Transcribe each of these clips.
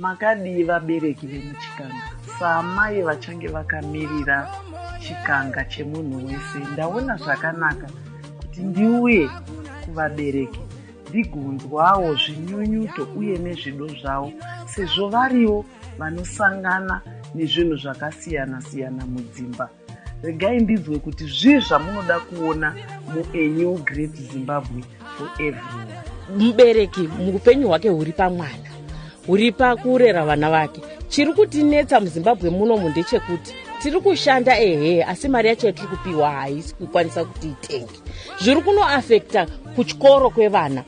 Makadii vabereki vemuChikanga? Saamai vachange vakamirira Chikanga chemunhu wese, ndaona zvakanaka kuti ndiuye kuvabereki ndigonzwawo zvinyunyuto uye nezvido zvavo sezvo varivo vanosangana nezvinhu zvakasiyana-siyana mudzimba. regai ndinzwe kuti zvii zvamunoda kuona muenew great zimbabwe for everyone mubereki muupenyu hwake huri pamwana huri pakurera vana vake chiri kutinetsa muzimbabwe munomu ndechekuti tiri kushanda ehe asi mari yacho yatiri kupiwa haisi kukwanisa kuti itenge zviri kunoafekta kuchikoro kwevana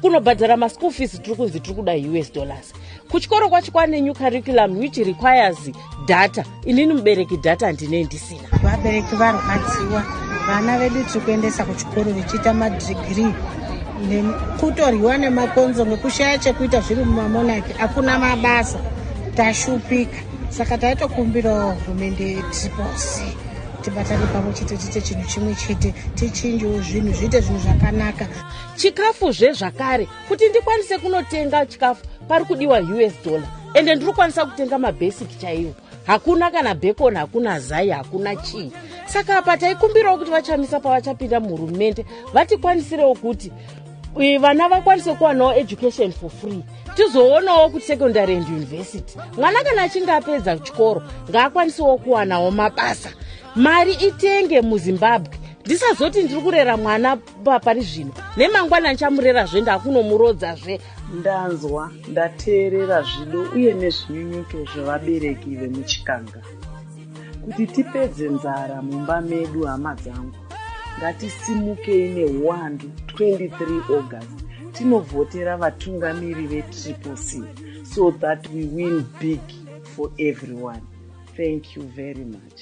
kunobhadhara maschool fees tiri kunzi tiri kuda us dollars kuchikoro kwacho kwane new curriculum which requires data inini mubereki data handinei ndisina vabereki varwadziwa vana vedu tiri kuendesa kuchikoro vechiita madhigirii nekutoryiwa nemakonzo nekushaya chekuita zviri mumamonaki hakuna mabasa tashupika saka taitokumbirawo hurumende yetriposi tibatane pamwe chete tiite chinhu chimwe chete tichinjewo zvinhu zviite zvinhu zvakanaka chikafu zvezvakare kuti ndikwanise kunotenga chikafu pari kudiwa us dollar ende ndiri kukwanisa kutenga mabasic chaiwo hakuna kana bacon hakuna zai hakuna chii saka apa taikumbirawo kuti vachamisa pavachapinda muhurumende vatikwaniserewo kuti vana vakwanise kuwanawo education for free tizoonawo kuti secondary and university mwana kana achinge apedza chikoro ngaakwanisewo kuwanawo mabasa mari itenge muzimbabwe ndisazoti ndiri kurera mwana pari zvino nemangwana ndichamurerazve ndakunomurodzazve ndanzwa ndateerera zvido uye nezvinyunyuto zvevabereki vemuchikanga kuti tipedze nzara mumba medu hama dzangu ngatisimukei neuwandu 23 august tinovhotera vatungamiri vetriple c so that we win big for everyone thank you very much